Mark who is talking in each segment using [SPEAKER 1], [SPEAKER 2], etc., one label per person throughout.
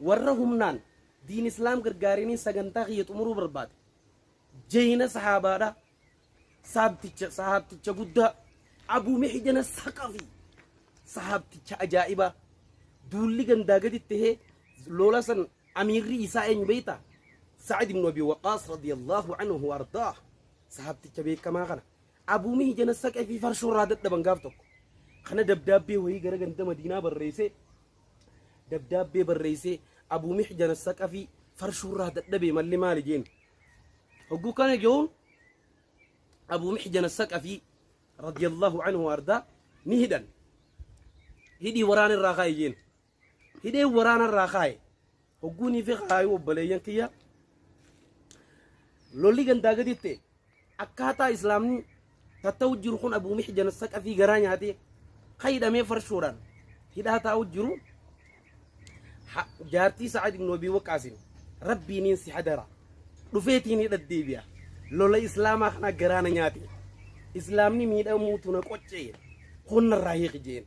[SPEAKER 1] Warra humnaan diin islaam gargaariniin sagantaa kiyya xumuruu barbaade. Jeyna sahaabaadha. Saabticha sahaabticha guddaa Abu Mihjana Saqafi. Sahaabticha ajaa'ibaa. Duulli gandaa gadi tahee loola san amiirri isaa eenyu beeyta? Sa'id ibn Abi Waqaas radiyallahu anhu wardaa. Sahaabticha beekamaa kana. Abu Mihjana Saqafi farshoo irraa dadhaban gaaf tokko. Kana dabdaabbee wayii gara ganda Madiinaa barreessee dabdaabbee barreessee Abuu Mihjan Assaqafii farshuurraa dadhabee malli maali jeen. Hogguu kana jehuun Abuu Mihjan Assaqafii radiyallahu anhu ardaa ni hidhan. Hidhii waraana irraa kaa'i jeen. Hidhee waraana irraa kaa'i. Hogguunii fi kaayuu obboleeyyan kiyya lolli gandaa gaditti akkaataa islaamni tatta'u jiru kun abuu mixjan saqafii garaa nyaatee ka hidhamee farshoodhaan hidhaa taa'u jiru ha- jaartii sa'ad ibnu abii waqaasin rabbiiniin si hadara dhufeetiin hidha deebi'a lola islaamaa kana garaana nyaate islaamni miidhamuutu na qoccee honnarraa hiiqi jeen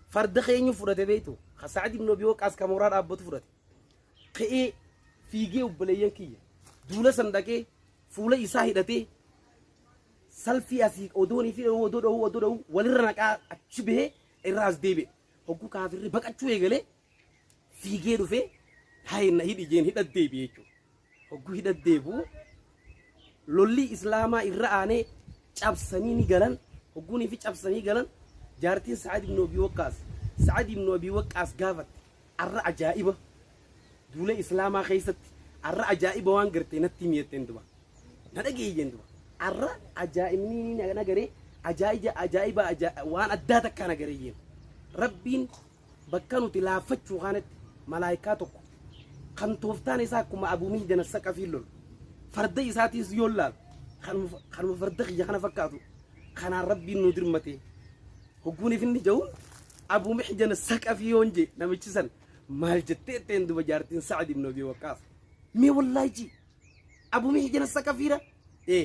[SPEAKER 1] Farda keenyu fudhate beektu. Ka Sa'ad ibn Abi Waqaas ka mooraa dhaabbatu fudhate. Ka'ee fiigee obboleeyyan kiyya. Duula san dhaqee fuula isaa hidhatee salfii asii odoonii fi dha'uu odoo dha'uu odoo dha'uu walirra naqaa achi bahee irraa as deebi'e. Hogguu kaafirri baqachuu eegalee Fiigee dhufee haye na hidhi jeen hidhat deebi'e jechuudha. Hogguu hidhat deebi'u lolli islaamaa irra aanee cabsanii ni galan hogguunii fi cabsanii galan jaartiin Sa'ad ibn Abi Waqqaas Sa'ad ibn Abi Waqqaas gaafatte arra ajaa'iba duula islaamaa keessatti arra ajaa'iba waan gartee natti himi jetteen duba na dhageeyyi jeen duba arra ajaa'ibni ni na garee ajaa'iba ajaa'iba ajaa- waan addaa takkaa na garee jeen rabbiin Bakka nuti laaffachuu kaanatti malaaykaa tokko kan tooftaan isaa akkuma Abuu Mihdana Saqafiin lolu farda isaatiis yoo laalu kanuma kanuma farda kiyya kana fakkaatu kanaan rabbiin nu dirmatee hogguun ifinni ja'uun Abuu Mihdana Saqafii yoon jee namichi san maal jettee ittiin duba jaartiin Sa'ad ibn Abi Waqqaas mee wallaahi Abuu Mihdana Saqafiira ee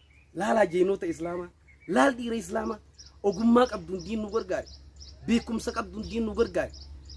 [SPEAKER 1] laalaa jeenoota islaamaa laal dhiira islaamaa ogummaa qabduun diin nu gargaari beekumsa qabduun diin nu gargaari